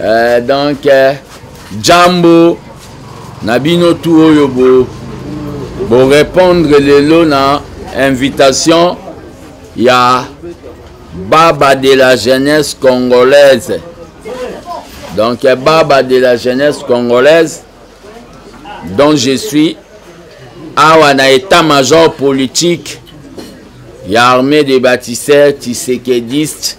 eh, donc eh, jambo na bino tu oyo bo borépondre lelo na invitation ya baba de la jeunesse congolaise donc eh, baba de la jeunesse congolaise dont je suis awa na état major politique ya armée de bâtisseurs tisekediste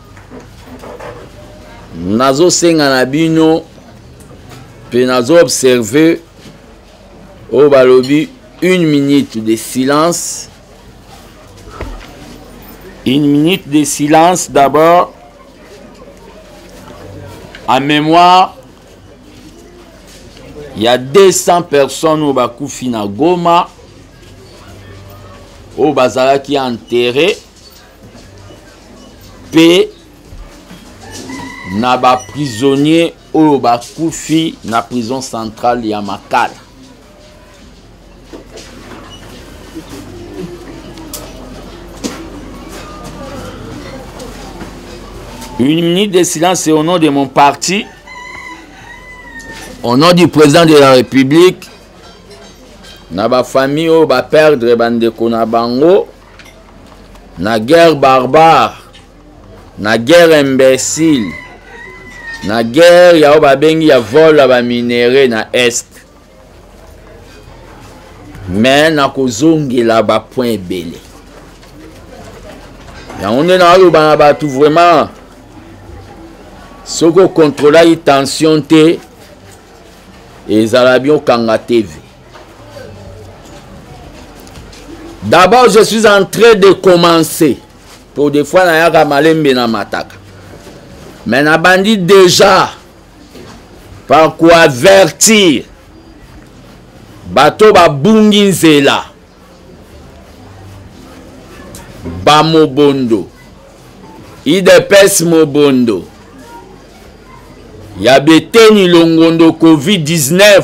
nazosenga na bino mpe nazoobserve oyo balobi une minute de silence une minute de silence d'abord en mémoire ya 200 personnes oyo bakufi na goma oyo bazalaki enterre mpe na baprisonnier oyo bakufi na prison centrale ya makala une minute de silence au nom de mon parti au nom du président de la république na bafamille oyo baperdre bandeko na bango na guerre barbare na guerre imbécile na guerre ya oyo babengi ya vol ya baminere na est me nakozongela bapoint ebele yango nde naoloba na bato vraiment soki okontrolaki tension te ezala biokanga teve D'abord, je suis en train de commencer. Pour des fois, na yaka malembe na mataka. Mais na bandi déjà par quoi avertir bato babungi nzela bamobondo idps mobondo ya beteni longondo covid-19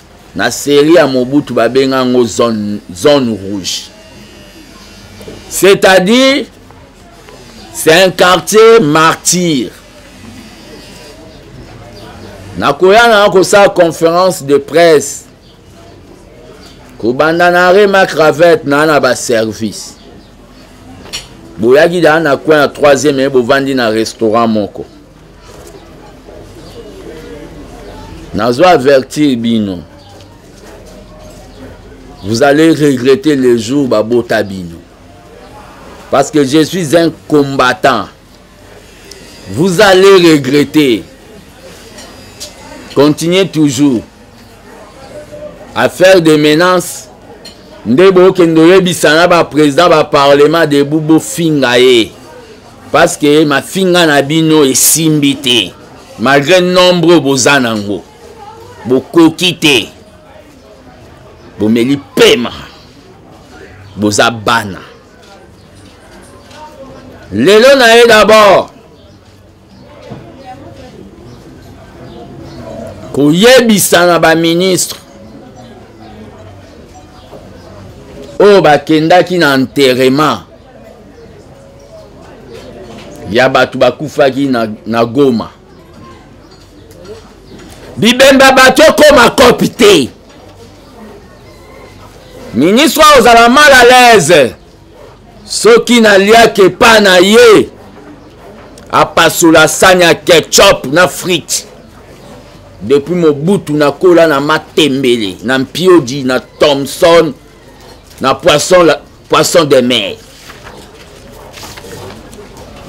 na serie ya mobutu babenga yango zone, zone rouge c'est-à-dire c'est un quartier martyr nakoya na kosala conférence de presse kobanda na rema cravette naa na baservice boyaki daa na coin ya troisième eye bovandi na restaurant moko nazo avertir bino vous allez regretter le jour babota bino parce que je suis un combattant vous allez regretter continuez toujours à faire des menaces nde bokende oyebisa na baprésident baparlement debu bofinga ye parce que mafinga na bino esimbi te malgré nombre oyo boza nango bokoki te bomeli pema boza bana lelo na ye dabord koyebisa na baministre oyo bakendaki na enterrement ya bato bakufaki na, na goma bibemba bato ekoma kopi te ministre oyo ozala mal à l'aise soki naliaki epa na ye apasola sani ya ketchup na frite depuis mobutu nakola na matembele na mpiodi na thomson na poisson poisson de mer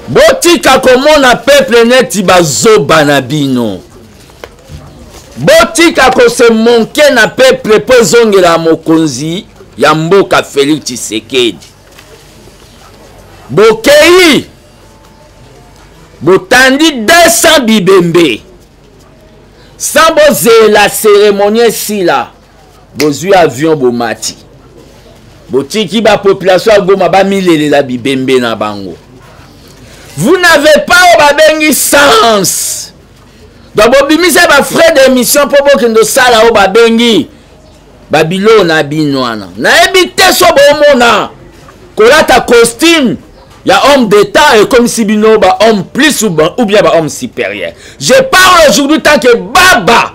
botika komona peuple neti bazoba na bino botika kose monke na peuple mpo ezongela mokonzi ya mboka felix tshisekedi bokei botandi 200 bibembe sans bozela ceremonie esila bozwi avion bomati botiki bapopulation ya goma bamilelela bibembe na bango vous n'avez pas oyo babengi sens donc bobimisa bafrais d'émission mpo bokende osala oyo babengi babiloo na bino wana nayebi te so bomona kolata costume ya homme d'état ekomisi bino bahomme plus ou bien bahomme supérieur je parle aujourd'hui tant que baba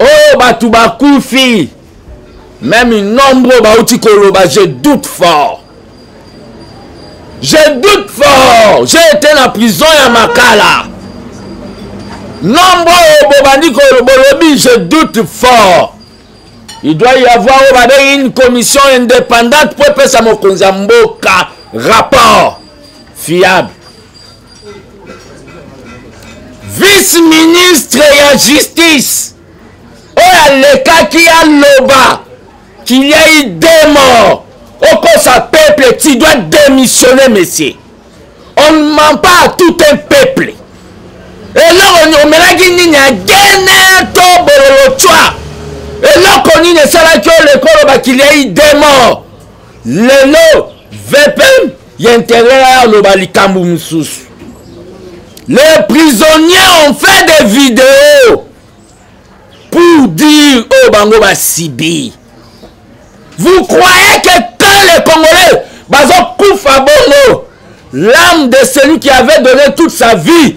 oyo bato bakufi meme nombre oyo bauti koloba je doute fort je doute fort j'ai été na prison ya makala nombre oyo bobandi bolobi je doute fort il doit y avoir oyo babengi une commission indépendante mpo epesa mokonzi ya mboka rapport fiable vice ministre ya justice oyo alekaki aloba qu'il y a eu deux morts okosa peuple tu dois démissionner monsieur on ne ment pas à tout un peuple eloko omelaki nini ya gene to bololo cwa eloko nini esalaki oyo lekoloba qu'il y a eu deux morts lelo vpm ya interieur ya aloba likambo mosusu les prisonniers ont fait des vidéos pour dire oyo oh, bango basibi vous croyez que tant les congolais bazokufa bongo l'âme de celui qui avait donné toute sa vie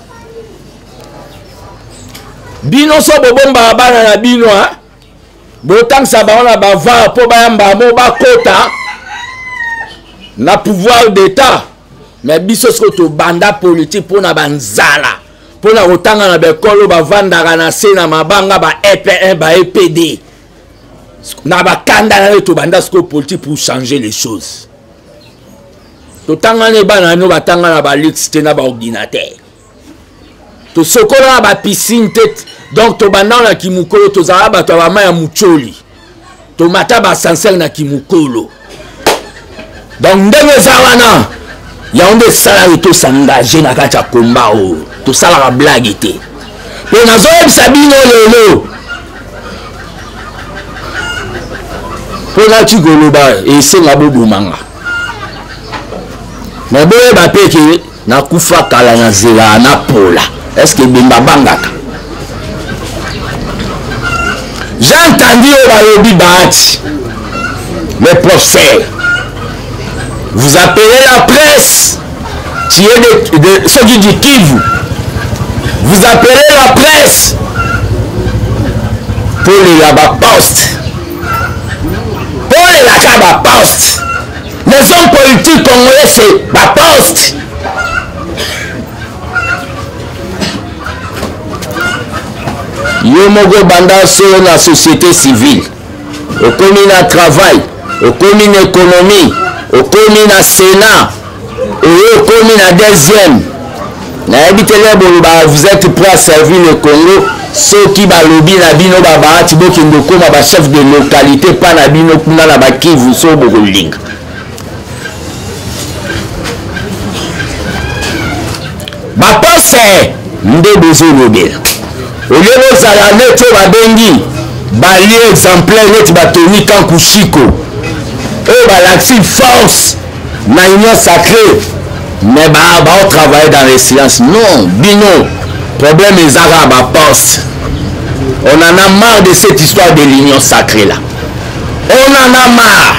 bino so bobombaka bana na bino botangisa bango na bavare mpo bayamba yango bakota na pouvoir d'état me biso soko tobanda politike mpo na banzala mpo na kotanga na baekolo bavandaka na se na mabanga ba epn ba epd na bakanda nayo tobanda sikoyo politike pour changer les choses totanga ne bana yango batanga na balix te na baordinatere tosokola na bapisine te donc tobanda na kimokolo tozala bato ya bama ya mocoli tomata basansere na kimokolo donc ndenge eza wana yango nde esalaki tosengage na kati ya komba oyo tosalaka blage te mpe nazoyebisa bino lelo mpo nati koloba esenga bobomanga me boyeba mpe ke nakufa kala na zela na pola eske ebemba bangaka jean kandi oyo balobi bahati le professeur vous appelez la presse tu es de, de soki du kivu vous appelez la presse mpo lela baposte bolelaka baposte les hommes politiques congolais se baposte yo moko banda so na société civile okomi na travail okomi na économie okomi na sénat oyo okomi na deuxième nayebi te lelo bolobaka vous êtes prêt à servir le congo soki balobi na bino babahati bokende okoma bachef de localité mpa na bino kuna na bakivu so bokolinga bapose nde bozolobela olie bozala neti oyo babengi balie exemplaire neti batoni kankushiko oyo balakisi force na union sacré mais baotravaille dans les silence non bino problème eza kaka baposte on en a marre de cette histoire de l'union sacré là on en a marre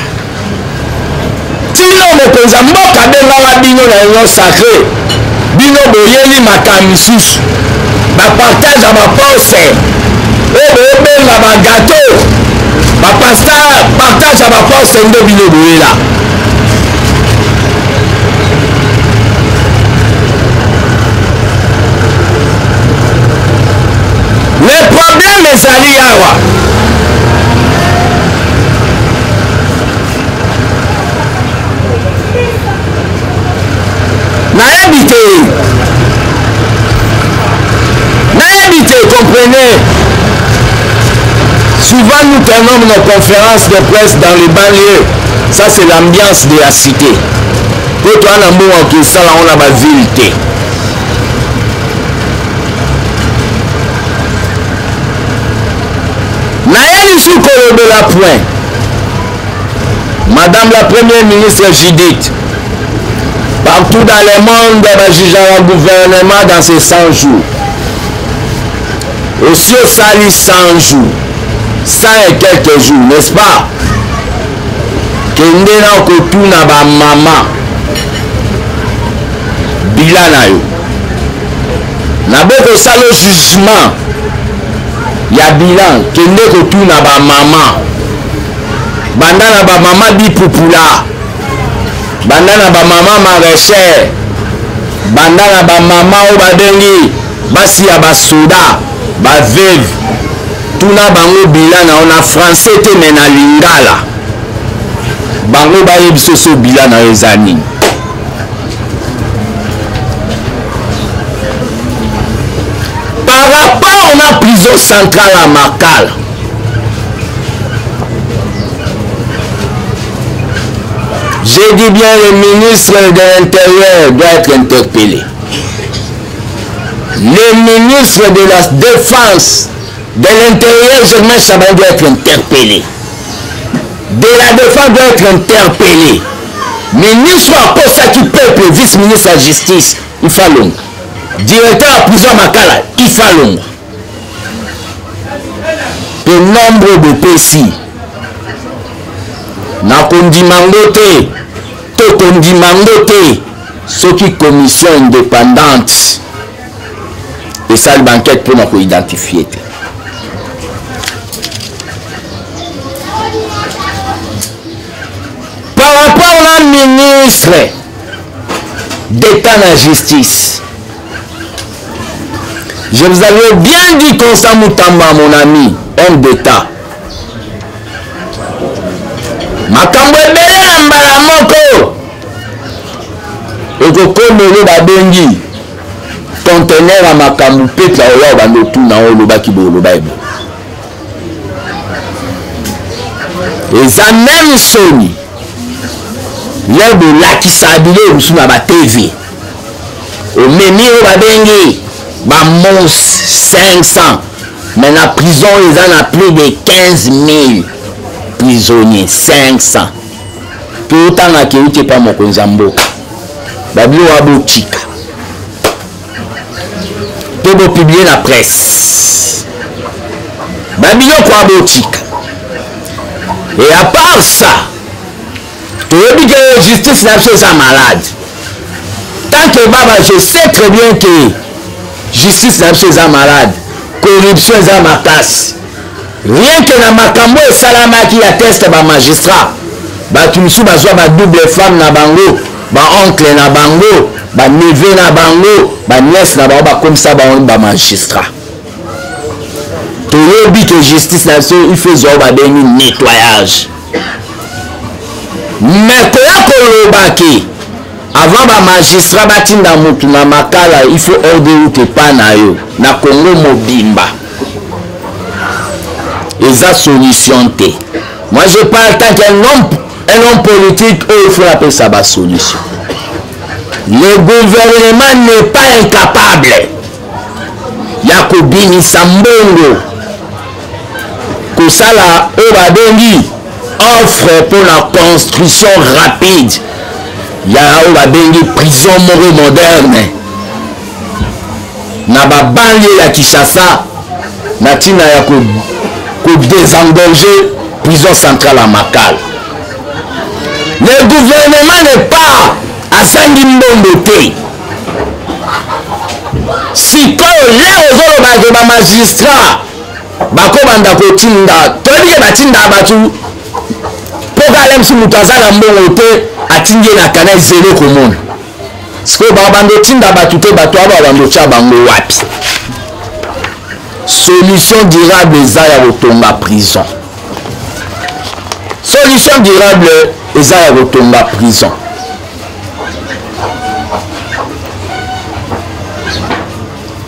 tino mokonzi ya mboka abengaka bino na union sacré bino boyeli makambo misusu bapartage ya baposte oyo boyobenga bagato bapasta partage ya baposte nde bino boyela le problème ezali awa nayebi te nayebi te comprenez souvent nous tenons nos conférences de presse dans les banlieues ça c'est l'ambiance de la cité po toa na mbongo akosala yango na baville te naye lisusu kolobela point madame la première ministre judith partout dans le monde bajugaka gouvernement dans ces 100 jours osi osali 100 jours 100 et quelques jours n'est-ce pas kende na kotuna bamama bila na yo nabokosala jugement ya bilan kende kotuna bamama banda na bamama bipupula banda na bamama maraichère banda na bamama oyo babengi basi ya basoda baveve tuna bango bila na yo na français te me na lingala bango bayebi soso bila na yo eza nini par rapport na prison centrale ya makala j'ai dit bien le ministre de l'intérieur doit être interpellé Le ministre de la Défense, de l'Intérieur, Germain Chaban doit être interpellé. De la Défense doit être interpellé. Ministre akosaki peuple, vice-ministre ya justice, Ifalonga. Directeur ya prison ya Makala, Ifalonga. Mpe nombre bopesi nakondima ngo te tokondima ngo te soki commission indépendante esali bankete mpona koidentifie te par rapport na ministre d'état na justice je vous avais bien dit constant mutamba mon ami homme d'état makambo ebele na mbala moko okokoma oyo babengi contener ya makambo mpetla oya obanda otuna oyo olobaki boye oloba ebo eza meme soni lelo bolakisa biloko mosusu na batv omemi oyo babengi bamos 500 mais na prison eza na plus de 15 000 prisonnier 500 totanga akeuti epa mokonzi ya mboka babio wa botika mpe bopiblie na presse babiloko ya botika e à part ça toyebi ke justice na biso eza malade tant que baba je sais très bien que justice na biso eza malade corruption eza makasi Rien que na makambo esalamaki ya test ba magistrat bato mosusu bazwa ba double femme na bango ba oncle na bango ba neveu na bango ba nièce na bango bakomisa bango ba magistrat toyebi ke justice na biso il faut ezwa babengi nettoyage me koya koloba ke avant bamagistrat batinda motu na makala il faut ordre route epa na yo na congo mobimba eza solution te moi je parle tant qu'un homme un homme politique oyo il faut apesa basolution le gouvernement n'est pas incapable ya kobimisa mbongo kosala oyo babengi offre mpo na construction rapide ya oyo babengi prison moko moderne na babanlie ya kinshasa na ntina ya kodesengorge prison centrale ya makala le gouvernement ne pas azangi mbongo te sikoyo leo ozoloba ke bamagistrat bakobanda kotinda toyebi ke batinda bato mpo kalemsi moto aza na mbongo te atindi ye na kanai zelo komona sikoyo babanda otinda bato te bato aba babanda otya bango wapi solution durable eza ya kotonga prison solution durable eza ya kotonga prison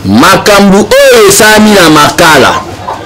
makambo oyo esalami na makala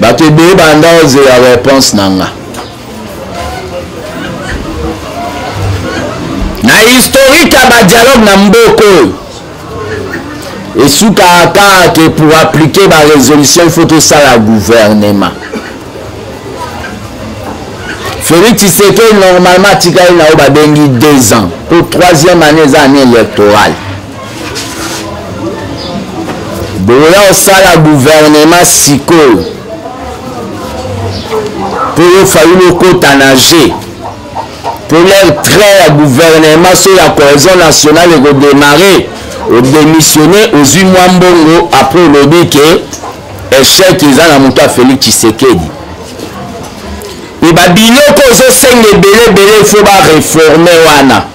bato ebele banda ozela reponse na nga na historike ya badialogue na mboka oyo esukaka kaka ke pour appliquer barésolution ifo tosala gouvernement félix tshisekedi normalement atikali na oyo babengi deux ans mpo troisième année eza année électorale boya osala guvernema sikoyo mpo yo fayulu okota na je mpo lere trai ya guvernema so ya cohesion nationale ekodemare odemissione ozwi mwa mbongo apres olobi ke echec eza na moto ya félix tshisekedi mpe babiloko ozosenga ebele ebele fo bareforme wana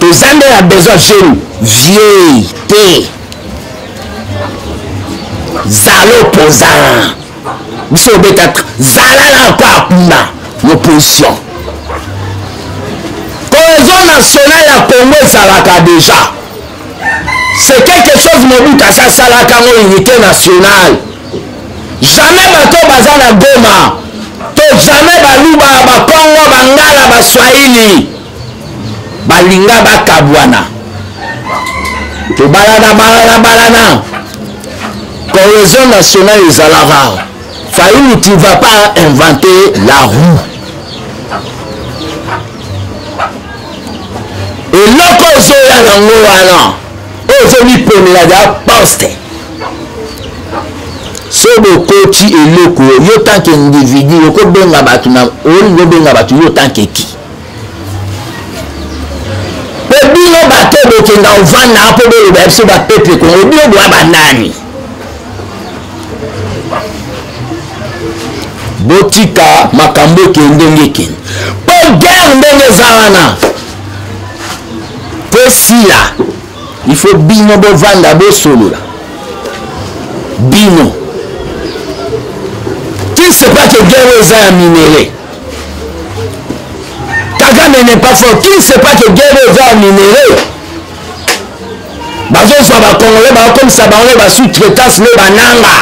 toza nde na besoin jeune vieux te zala opposant biso obeta zala na encore kuna na opposition cohésion nationale ya congo ezalaka déjà c'est quelque chose mobutu asasalaka ngo unité nationale jamais bato baza na goma to jamais baluba bakongo bangala baswahili balinga bakabwana tobalana balana balana cohésion nationale ezala rare fayulu tu vas pas inventer la roue eloko ozoya yango wana ozomiponela da poste so bokoti eloko yo tanke individu okobenga bato na olingi obenga bato yo tanke ki mpo bino bato bokenda ovanda mpo boloba biso bapeple kongo bino boya banani botika makambo ekende ndenge ekende mpo guerre ndenge eza wana mpo esila il faut bino bovanda bosolola bino qui sait pas que guerre oyo eza ya minere kagame n'est pas fort qui sait pas que guerre oyo eza ya minere bazozwa bakongole bakokomisa bango na basous traitance nde bananga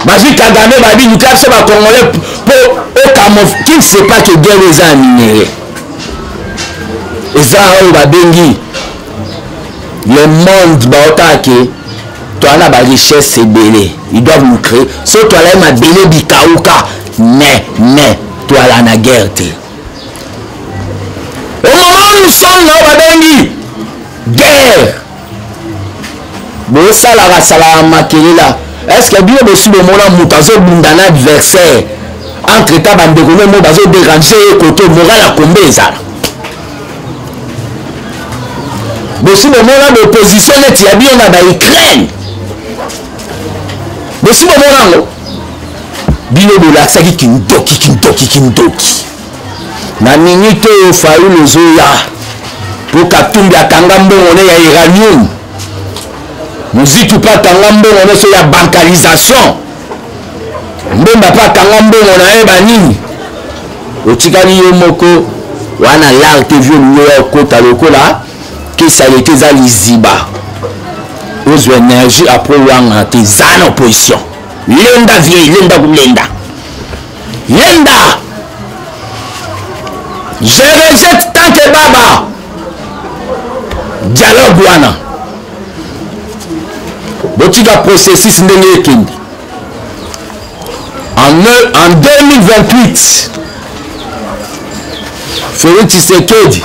bazwi kagame babi luka biso bacongolais mpo okamov qui ne sait pas que guerre eza ya minere eza oyo babengi le monde baotaka ke toa na barichesse ebele ils doivent nous créer so toala ye mabele bikauka ne ne toala na guerre te omoma musonga oyo babengi guerre bosalaka salaka makelela estce bino bosi bomona moto azobunda na adversaire entre temps bandeko no mo bazoderange ye koto moral ya kombe ezala bosi bomona baopposition neti ya bino na baukraine bosi bomona yango bino bolakisaki kindoki kindoki kindoki na minute oyo fayulu ezoya mpo katumbi akanga mbongo ne ya iranium muziki mpe akanga mbongo nyonso ya bankalisation mbemba mpe akanga mbongo na ye banini otikali yo moko wana lar te vio liyo ya okota lokola kesalite eza liziba ozwa energie apres wanga te eza na opposition lenda vieille lenda kolenda yenda je rejette tant que baba dialogue wana botika processus ndenge ekende en, en 2028 felix tshisekedi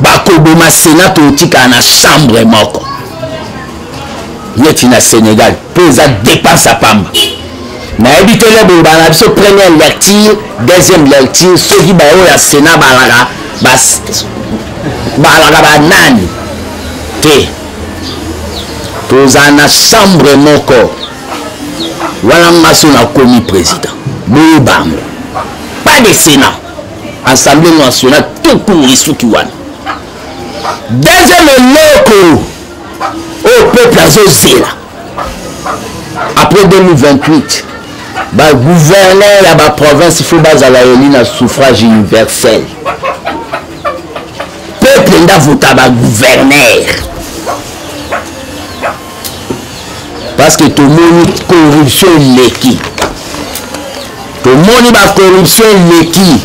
bakoboma sena totikala na chambre moko neti na sénégal mpo eza dépense ya pamba nayebi te le boye bana biso première lecture deuxième lecture soki baoyo ya sena balaka balaka banani te tozala na chambre moko wana nga so nakomi président boyeba yango pas de sénat assemblée nationale tout court esuki wana deuxième eloko oyo peuple azozela après 2028 bagouverneur ya baprovince fo bazala eli na suffrage universel peuple nde avota bagouverneur parce que tomoni corruption eleki tomoni bacorruption eleki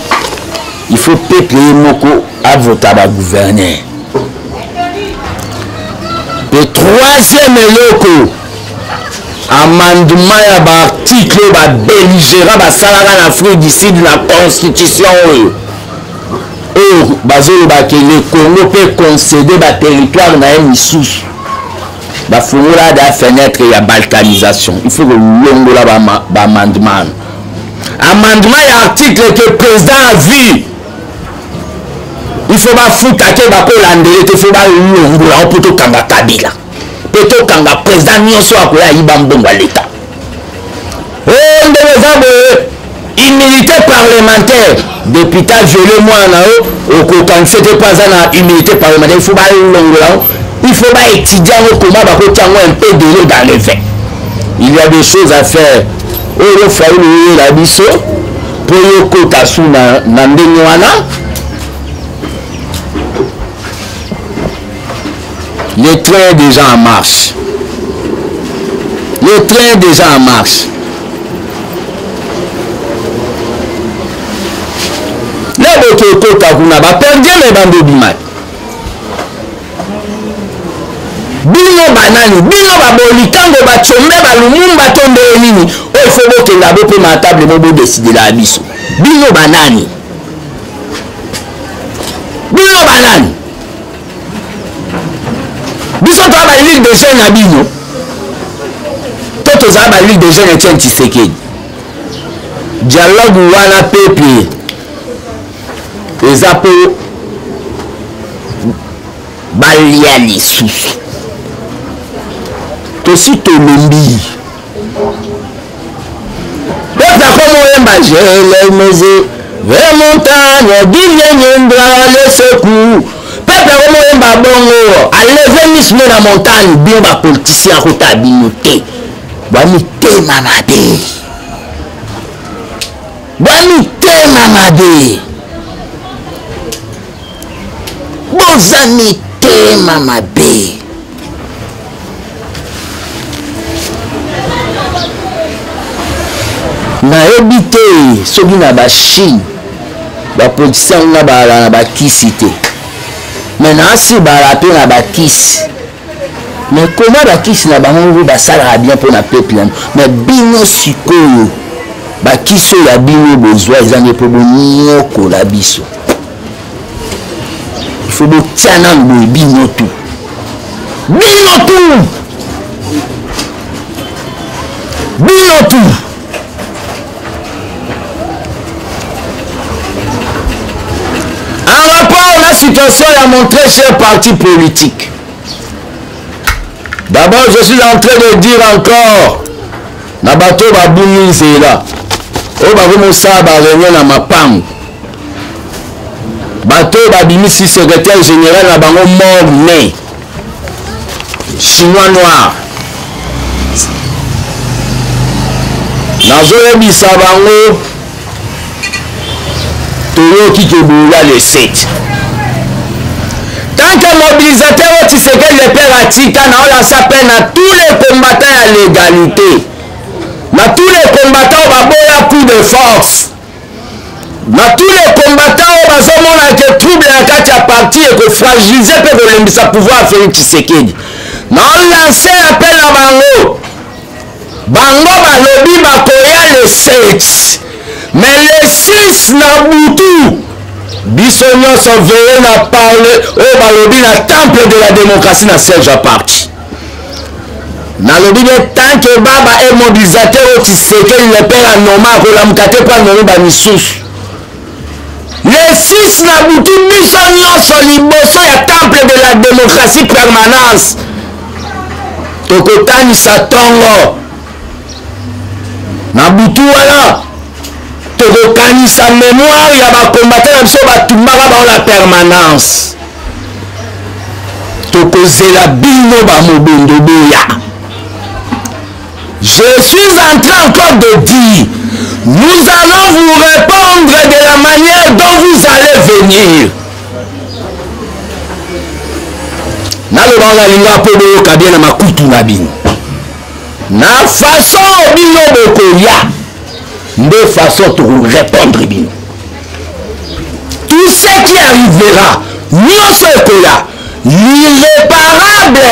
il faut peuple ye moko avota bagouverneur mpe troisième eloko amendement ya baarticle oyo babelligera basalaka na afrique du sud na constitution oyo oyo bazoloba ke le congo mpe concede baterritoire na ye misusu bafungola da fenêtre ya balkanisation il faut kolongola baamendement ba amendement ya article que président a vie il faut bafuta te bakolandele te faut balongola yango mpo tokanga kabila mpe tokanga président nyonso akoya ayiba mbongo ya leta oyo ndenge eza boye humilité parlementaire deputa viole mwana na yo okokanisa te mpo aza na humilité parlementaire ifo balongola yango ifo baétudie yango koma bakoti yango un peu delo dans le vin il y a des choses à faire oyo faulu oyela biso mpo yokota su na ndenge wana Le train est déjà en marche. Le train est déjà en marche. lelo tokota kuna baperdieme bando obimaki bino banani bino baboli ntango bacombe balumumba to ndeye nini oyo fo bokenda bopema ya table mo bodesidela ya biso bino banani bino banani biso toa ba ligue de jeune na bino to tozala ba ligue de jeune etienne tshisekedi dialogue wana pepe eza mpo balia lisusu tosi tolombi Peuple akoma oyemba jelemeze ve montagne diviendra le secours peuple akoma oyemba bongo aleve misu ne na montagne bino bapoliticien akota bino te bwa mitema mabe bwa mitema mabe boza mitema mabe nayebi te soki na bachine bapotisa yango na bala na bakisi te me naasi bala mpe na bakisi me koma bakisi na bango ngo basalaka bien mpo na peuple yango me bino sikoyo bakisi oyo ya bino bozwa eza nde mpo bonyokola biso il faut botya nanu boye bino tu bino tu bino tu en rapport na situation ya mon très cher parti politique d'abord je suis en train de dire encore na bato babungi nzela oyo bakomosala bareunion na mapango bato oyo babimisi secrétaire général na bango mort mai chinois noir nazoyebisa bango toyoki ke boya le 7 tant que mobilisateur oyo tisekeli lepere atika naolasa mpe na tous les combattants ya légalité na tous les combattants oyo baboya coup de force na tous les combattants oyo bazomona ke trouble na kati ya parti ekofragilize mpe kolembisa pouvoir félix tshisekedi na lance appel na bango bango balobi bakoya le 7 mais le 6 na butu biso nyonso veye na parle oyo balobi na temple de la démocratie na siège ya parti nalobi nde tant que baba e mobilisateur oyo tisekeli le père anoma akolamuka te mpo anomi bamisusu le 6 na butu biso nyonso liboso ya temple de la démocratie permanence tokotanisa ntongo na butu wana tokokanisa mémoire ya bakombata na biso batumbaka bango na permanence tokozela bino bamobondo boya je suis en train encore de dire nous allons vous répondre de la manière dont vous allez venir naloba nalinga mpo boyoka bien na makutu na bino na façon bino bokoya nde façon tokorepondre bino tout ce qui arrivera nyonso ekoya l'irréparable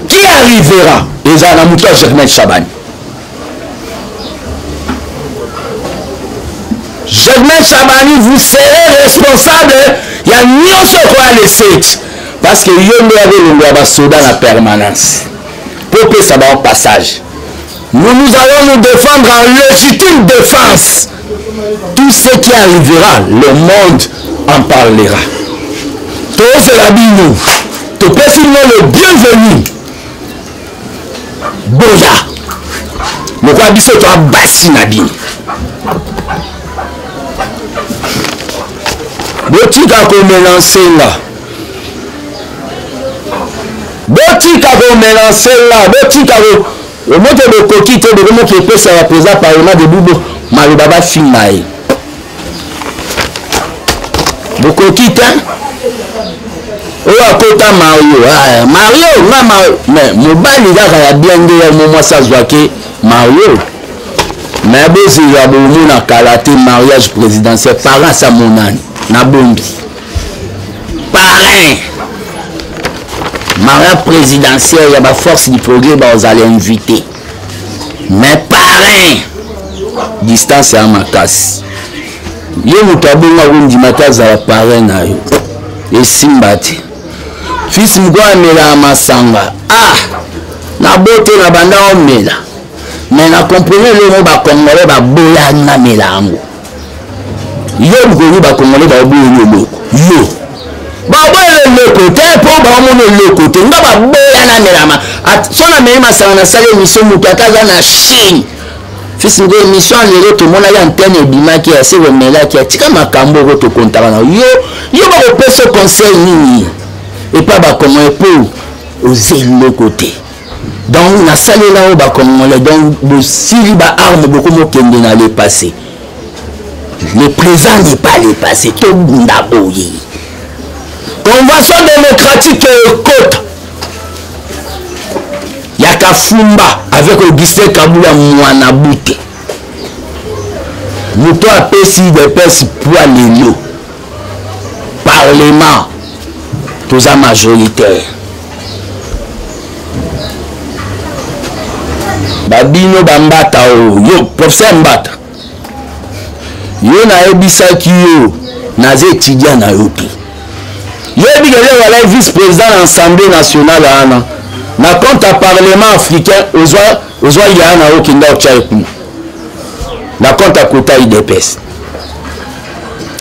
qui arrivera ezala na moto ya germain chabani germain chabani vous serez responsable ya nyonso ekoya le 7 parce que yo nde ya bolongo ya basoda na permanence mpo opesa bango passage Nous, nous allons nous défendre en légitime défense. Tout ce qui arrivera, le monde en parlera. tozela bino topesi bino le bienvenu boya lokola biso toa basi na bino botika komelanse nga botika komelanse nga botika omoke bokoki te bokomoki epesa ya président parlement de bubo maloba bafinga ye bokoki te oyo akota mario ah, mario nga mais mobali kaka ya bien nde ya mo mwasi azwaki mario mais bozela bomona kala te mariage présidentiel parents amonani nabombi parrain marin présidentiel ya baforce du progrès bazala invité mais parrain distance ya makasi ye moto abonga kondima te azala parrain na yo esimba te fils moko amelaka masanga ah nabote na banda omela mais na comprene eloko bacongolais baboyani namela yango yo lukoki bakongole baoboyeli eloko yo baboyeli eloko te mpo baomona eloko te nga baboya namelama so nameli masanga nasali emission moto ata aza na chine fils moko émission lelo tomonaki antenne ebimaki ya se komelaki atika makambo oko tokontaka na yo yo bakopesa conseil nini epa bakoma epo oza eloko te donc nasalela oyo bacongolais donc bosili baarme bokomokende na le passé le présent n'est pas le passé tobunda boye convention démocratique ekota ya kafumba avec augustin kabula mwana bute moto apesi depese pwa lelo parlement toza majoritaire babino bambata oyo yo professeur mbata yo nayebisaki yo naza étudiant na yo te yebi kele walai vice président na assemblée nationale wana na compte ya parlement africain ozwa ozwa yana okenda otya ye kuna na compte akota idps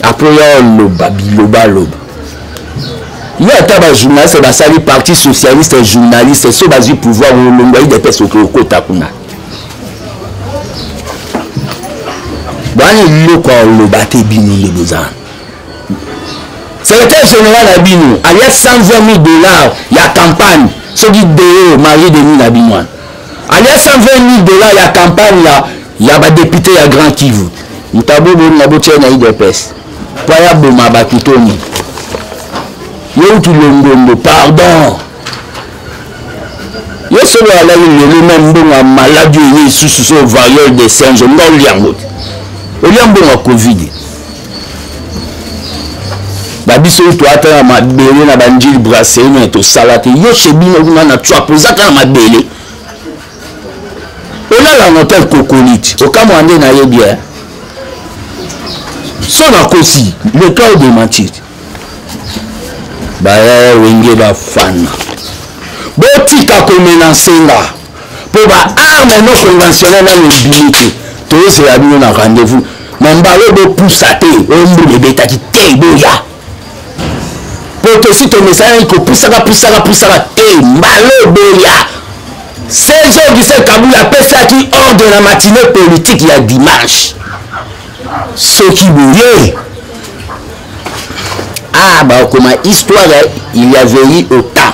apres oya oloba bilobaloba yo ata bajournaliste basali parti socialiste journaliste so bazwi pouvoir olongwa idps oke okota kuna bwana eloko ya oloba te bino nde bozana secrétaire général na bino alia 120 000 dollars ya campagne soki deo marie denis na bino wana alia 120000 dollars ya campagne ya, ya badepute ya grand kivu ntabo bolinga botia na idps mpo aya boma bato toni yeuti longondo pardon ye solo alali lelo na mbongo ya maladi oyo lisusu so variole de singe nga olia yango te olia mbongo ya covid babiso oyo toata na mabele na banjili brasserie me tosala te yo chez bino kuna na tswap oza kaka na mabele olala na hotel kokolite okamwa nde nayebi ya so nakosi le cas de mentir baya wenge bafana botika komenansenga mpo ba arme no conventionnel nano ebimi te toyosela bino na rendez-vous na mbala oyo bopusa te oyo mbula ebetaki te boya mpo tosi tomesanaki kopusaka pusaka pusaka te mbala oyo boya serge augustin kabula apesaki ordre na matine politike ya dimanche soki boye ah bakoma histoire il y avait eu au temps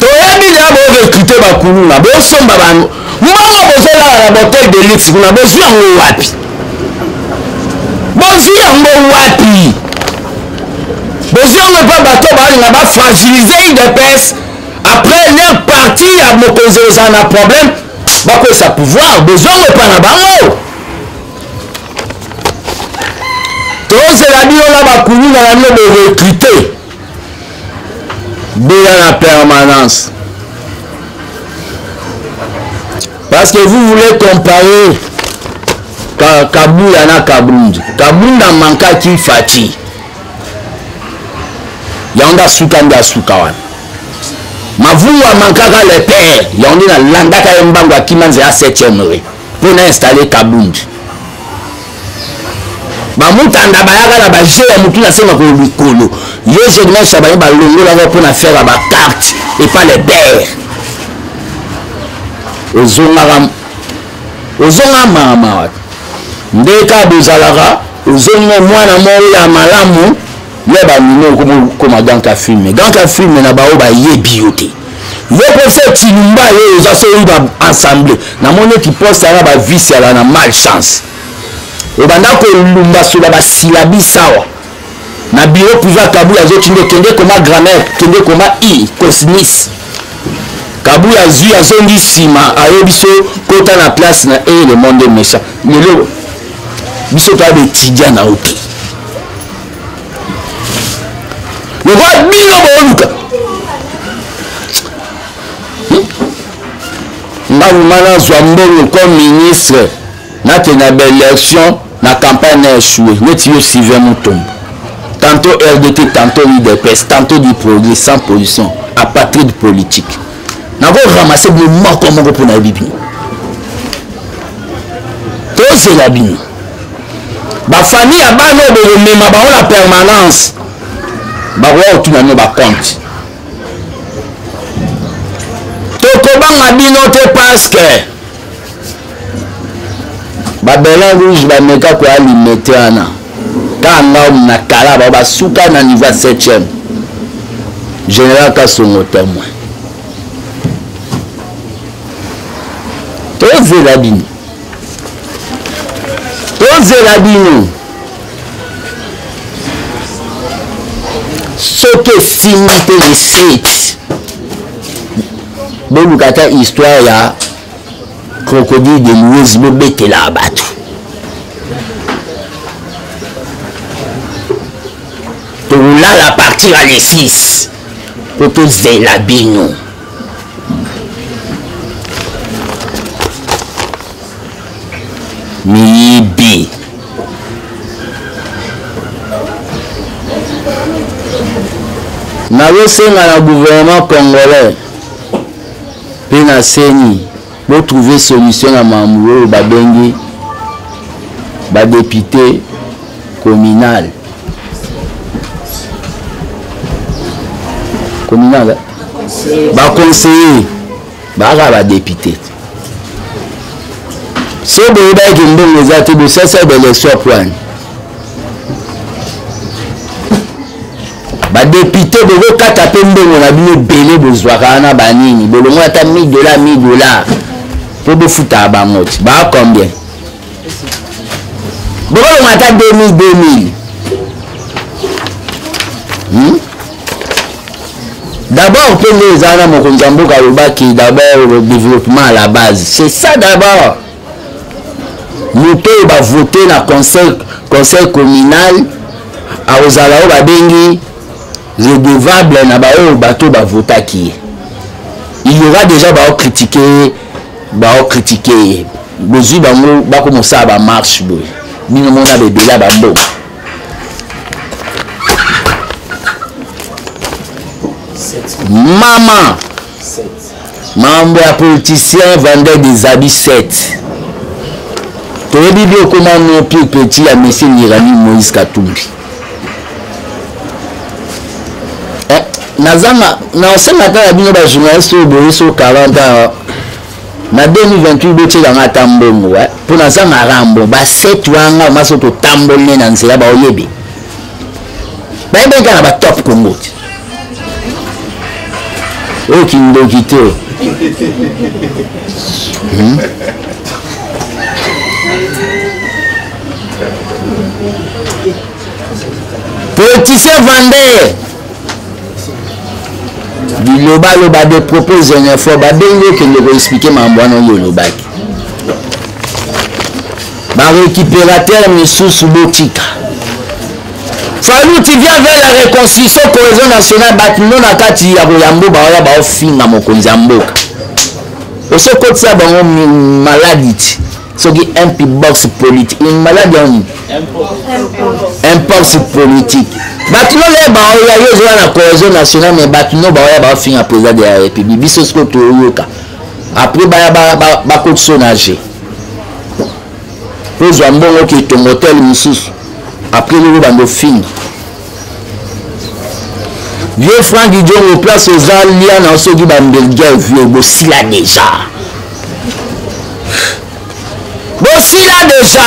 toyebi deya borecrute bakuluna bosomba bango mbongo bozolala na botel de luxe kuna bozwi yango wapi bozwi yango wapi bozwi yango epa bato balinga bafragilize udps après leur parti ya mokonzi ozala na problème bakwesa pouvoir bozwi yango epa na bango tozela bino na bakuluna na bino borecrute Bela la permanence. Parce que vous voulez comparer Ka, Kabuya na Kabund. Kabund a manqué qui Fatih. yango nde asuka nde asuka wana mavungu amankaka le père yango nde nalandaka ye mbangu akima nzela 7e re mpo na installe kabund bamutanda bayaka na baje ya motu nasenga ko likolo yo journaliste baye balongolaka mpo na faire bacarte epa le bere ozongaka ozongaka maamawa nde ka bozalaka ozongi mwana moko ya malamu ya bandimi okomi okoma ganka filme ganka filme na baoyo bayebi yo te yo mposa tilumba yo oza soki ba ensemble namoni eti poste yana bavice yala na mal chance obanda kolumbasola basilabi sawa na biro priva kabul azotinde kende koma grammaire kende koma i cosnis kabul azwi azongi nsima aye biso kota na place na e le monde méchant lelo biso toya baetudia na yo te lokola bino booluka hmm? ngambo ma nazwa mbongo comme ministre nakenda baélection na campagne na échoue neti yo sylvain mutombo tantôt rdt tantôt udps tantôt du progrès sans position apatride politique nakoramasse bino moko moko mpo nayebi bino tozela bino bafamille ya bana oyo bokomema bango na permanence bakoya kotuna bino bakonte tokobanga bino te paske babelin rouge bameka koya limete wana kaka ngao na kala bao basuka na niveau ya 7e général kasongo témoin tozela bino tozela bino soki esimbi te le site boluka ata histoire ya crocodile de louise bobetela bato tokolala partir ya le 6 mpo tozela bino miyibi nazosenga na gouvernement congolais mpe na ceni Bo trouver solution na mambo oyo babengi ba député communal. Communal. Hein? Ba conseiller ba ba député. So boyebaki mbongo eza te bosasa ba élection poani badepute bokokata mpe mbongo na bino ebele bozwaka wana banini bolongo ata 1000 dola 1000 dola mpo bofutaka bango ti baa combien bokolongo ata 2000 2000 hmm? d'abord mpe nde eza wana mokonzi ya mboka alobaki d'abord le développement à la base c'est ça d'abord moto oyo bavote na conseil, conseil communal akozala oyo babengi redevable na baoyo bato oyo bavotaki ye il y aura déjà baokritike ye baokritike ye bozwi bango bakomosala bamarche boye bino mona bebele ya bambongo mama mambo ya politicien vendeur des habits 7 toyebi bi okoma no pire petit ya monsieur nirani moïse katumbi eh, nazanga nasenga ata na bino bajournaliste oyo boye so 40 ans na 2028 botyelanga ata mbongo eh, mpo nazanga rambo ba 7 wanga maso totamboli ne na nzela baoyebi bayebaki kaka na batop congo te oyo kindoki te hmm? politicien vendeur bilobaloba de propos xénophobe abengi okende koexplike mambo wana oyo olobaki ba récupérateur misusu botika falu tu viens vers la reconstruction cohésion nationale bato no na kati ya koyambo baoya baofinga mokonzi ya mboka osokotisa bango maladi ti soki mp box politique une maladi ya nini impox politique bato no le baoya yo ozoya na cohésion nationale mais bato no baoya baofinga président de la république biso sikoyo toyoka après baya bakotisa ba, ba, na je ozwa mbongo oke etongo hotel mosusu après lelo banda ofingi vieux frank jongo place oza lia na soki bambelgia vieux bosila deja bosila deja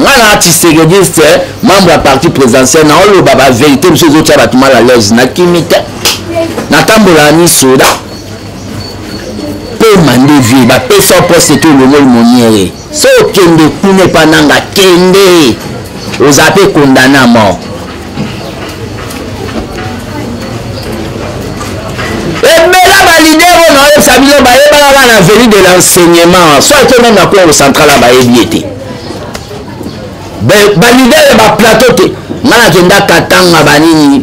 nga na tisekediste membre ya parti présidentiel na oloba baverité mosusu ezotya bato mal à l'aise nakimi te natambola ni soda pema nde vie bapesa poste te olongoli moniere so okende kuna epa nanga kende oza mpe condamne a mort ebela balider oyo naoyebisa bino bayebaka kaka na veni de l'enseignement so ake meme na congo central a bayebi ye te balider ya baplateau te ngai nakenda katanga banini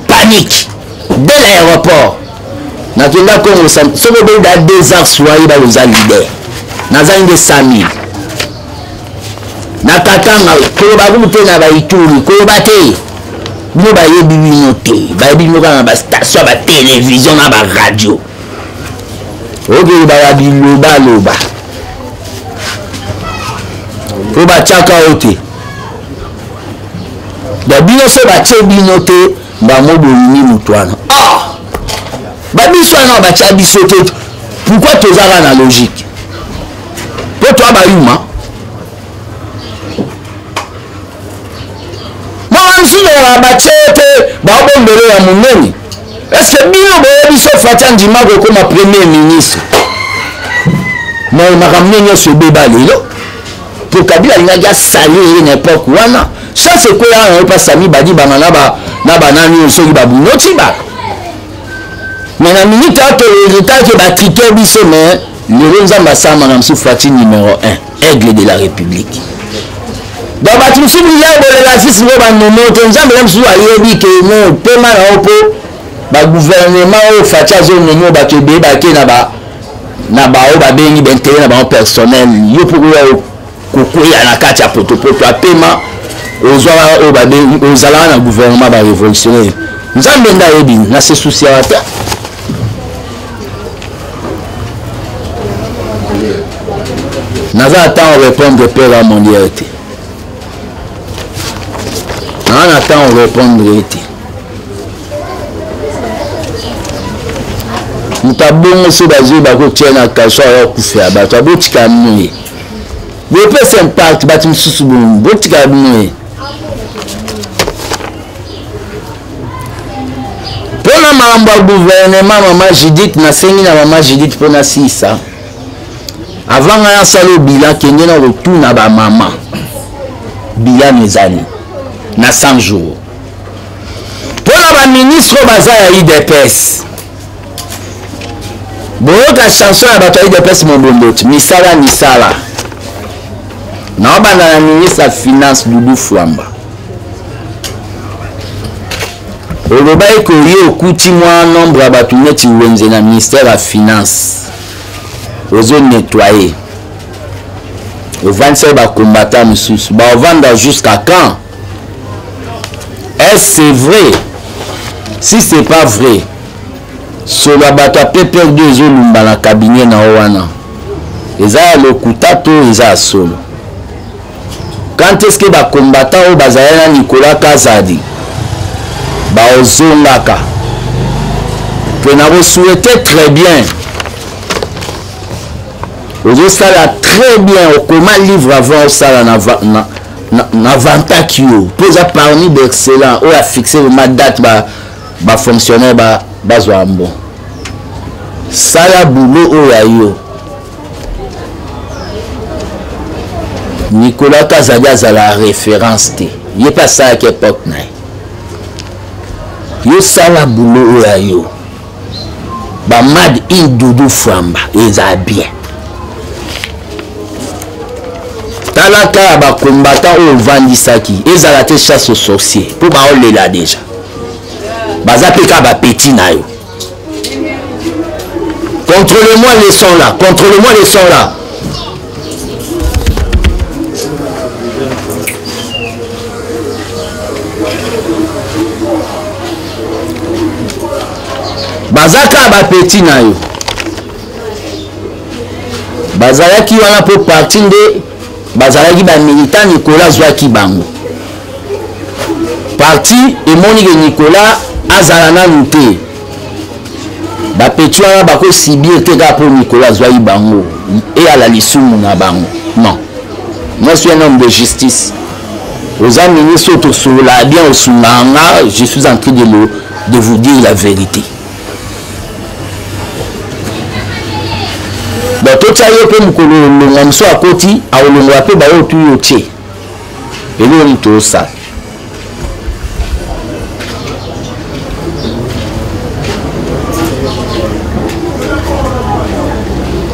panike de l'aéroport nakenda congo soki obeda deux ans soye baloza lider nazangi nde 5000 na katanga koloba kumu te na baituri koloba te bino bayebi bino te bayebi bino kaka na bastation ya batelevizio na baradio okei baya bilobaloba oyo batyaka yo te da bino so batye bino te bango bolingi moto wana ah! babiso wana batya biso te pourkui tozaka na logique mpo toa bayuma makamsinoa batye te baobombele ya monene estce bino boyebi so fati andima kokoma premier ministre makambo nde nyonso ebeba lelo po kabila alingaki asali ye na epoke wana chance ekweya wana yo mpasi amibadi banga na banani oyo soki babunoti ba me na minute oyo toyeritaki batrike biso me lelo nzambe asama na mosusu fati numero 1 aigle de la république donc bato mosusu biliya bolela sisi ngo banomo te nzambe na mosusu ayebi ke no pema na yo mpo baguvernema oyo fati azonomo bato ebeye bake na ba na baoyo babengi baintere na bango personnel yo mpo koya kokweya na kati ya potopoto apema ozwaka oyo babengi ozalaka na gouvernement barevolutionnaire nzambe nde ayebi na se susiaka te naza na ntango répondre père ya moliere te naa na ntango répondre ye te moto abongo so bazwi bakotia na kaso aya kufela bato abotika moye bopesa impact bato mosusu bongo botika moye mpona makambo ya guvernema mama judith nasengi na mama judith mpona sisa avant ngai asala obila kende na kotuna bamama bilano ezali na 100 jours mpo na baministre oyo baza ya udps boyoka chanson ya bato ya udps mobomboti misala misala naobanda na ministre ya finance dudu fwamba olobaki koye okuti mwa nombre ya bato neti wenze na ministère ya finance ozo nettoye ovandisaki bakombata mosusu baovanda jusqu'à quand est ce c'est vrai si c'est pas vrai solo ya bato ya pprd ezolumba na kabinet na yo wana eza ya lokuta to eza ya solo quand est ce que bakombata oyo bazali na nicolas kazadi baozongaka mpe nakosouhaite très bien ozosala très bien okoma livre avant osala na, na, na vantaki yo mpo eza parmi baexcellent oyo afixe vrema date bafonctionnaire ba bazwa ba mbon sala boulot oyo ya yo nicolas kazadi azala référence te ye mpe asalaki epoque na ye yo sala boulot oyo ya yo ba mad in dudu fwamba eza bien tala kaka bakombata oyo ovandisaki ezala te chasse au sorcier mpo baolela deja baza mpe kaka bapeti na yo controle moi leson là controle moi leson là baza kaka bapeti na yo bazalaki wana mpo parti nde bazalaki bamilita nicolas azwaki bango parti emonike nicolas azala nanu te bapeti wana bakosibir te kaka mpo mikolo azwaki bango eyala lisumu na bango non moi suis un homme de justice oza ministre oyo tosololaka bien osungaka nga je suis en train de, le, de vous dire la vérité bon totya ye mpe mokolo olongwa mosu akoti akolongola mpe baoyo tuyo tie eloko nini tosala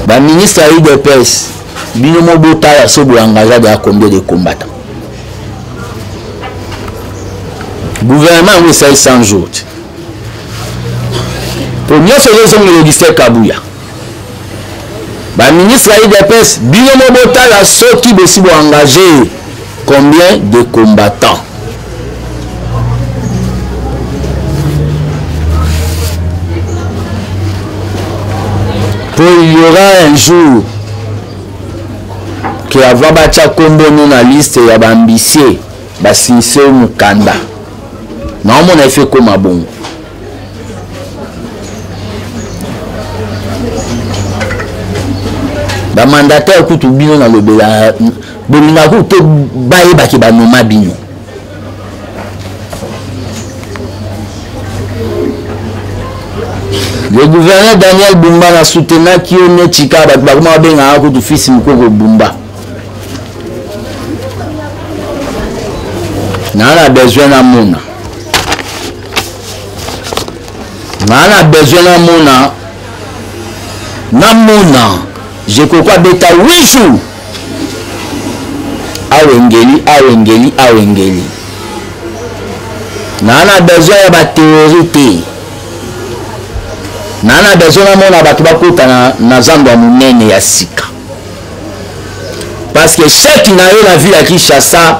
baministre ya udps bino mo botala so boengagea deya combien de combattant gouvernement yango esali 100 jours te mpo nyonso ezozongela augustin kabuya ba ministre ya udps bino mo botala soki bosi bo engage combien de combattants po il y aura un jour ke ava batya nkombo no na liste ya baambisie basinise mokanda naomona efe ekoma bongo bamandataire kutu bino nalobela bolingaka kutu te bayebaki banoma bino le gouverneur daniel bumba na soutenaki yo ne chika bato bakoma babengaka kutu fils mokoko bumba naa na besoin namona ngaa na besoin namona namona jekoko abeta 8 jours awengeli awengeli awengeli naa na besoin ya bateori te naa na besoin namona bato bakutana na zando ya monene ya sika parce que chèque na yo na ville ya kinshasa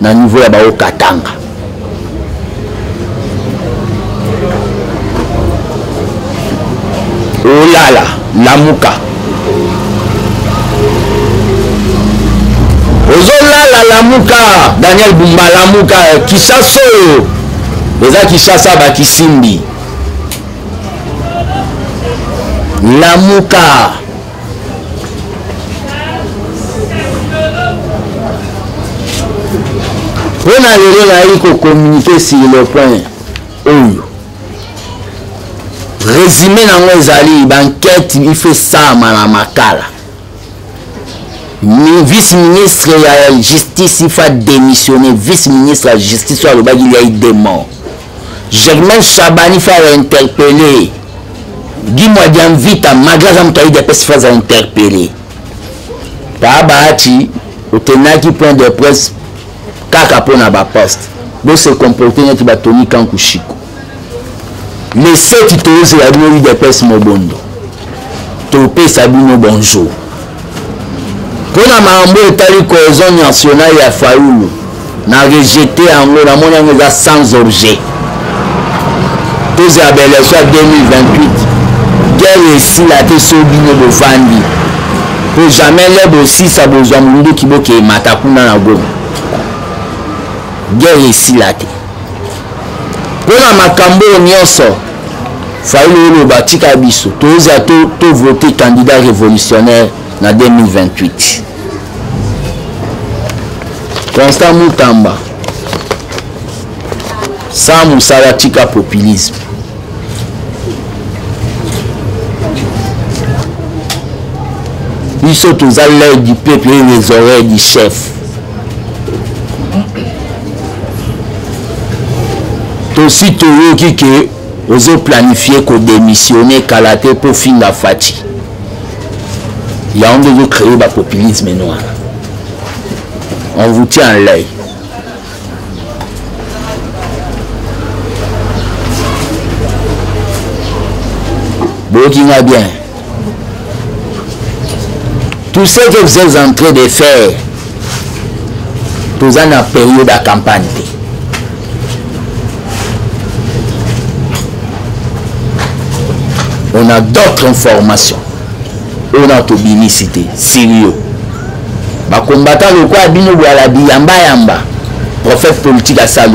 na niveau ya bao katanga olala lamuka ozolala lamuka daniel bumba lamuka kisasa oyo eza kisasa bakisimbi lamuka mpo na lelo nayaki kokommunike sur le point oyo résumé nango ezali bankete ife esalama na makala vice ministre ya justice ifa démissionne vice ministre ya justice oyo alobaki liai demon Germaine Shabani fa wa interpeller Guy Mwadiamvita malgré aza moto ayidi apesi fa za interpeller paa baati otenaki point de presse kaka mpo na baposte bose comporte neti batoni kankushiko leseti tozela bino udps mobondo topesa bino bonjour mpo na makambo etali cohesion nationale ya fayulu na rejete yango namoni yango eza sans objet tozela baelection ya 2028 guerre esila te so bino bovandi mpo jamais le bosisa bozwa monduki bokemata kuna na goma guerre esila te mpo na makambo oyo nyonso fayulu oloba tika biso tozwa tovote to candidat révolutionnaire na 2028 constant mutamba sa mosala tika populisme biso toza l'œil du peuple et les oreilles du chef tosi toyoki ke ozo planifie kodemissione kala te mpo finga fati yango nde ozo cree bapopulisme noir on vous tient en l'œil boyoki nga bien tout ce que vous êtes en train de faire toza na période ya campagne te on a d'autres informations oyo na tobimisi te sirio bakombata lokola bino bwala biyambayamba prophète politique asalo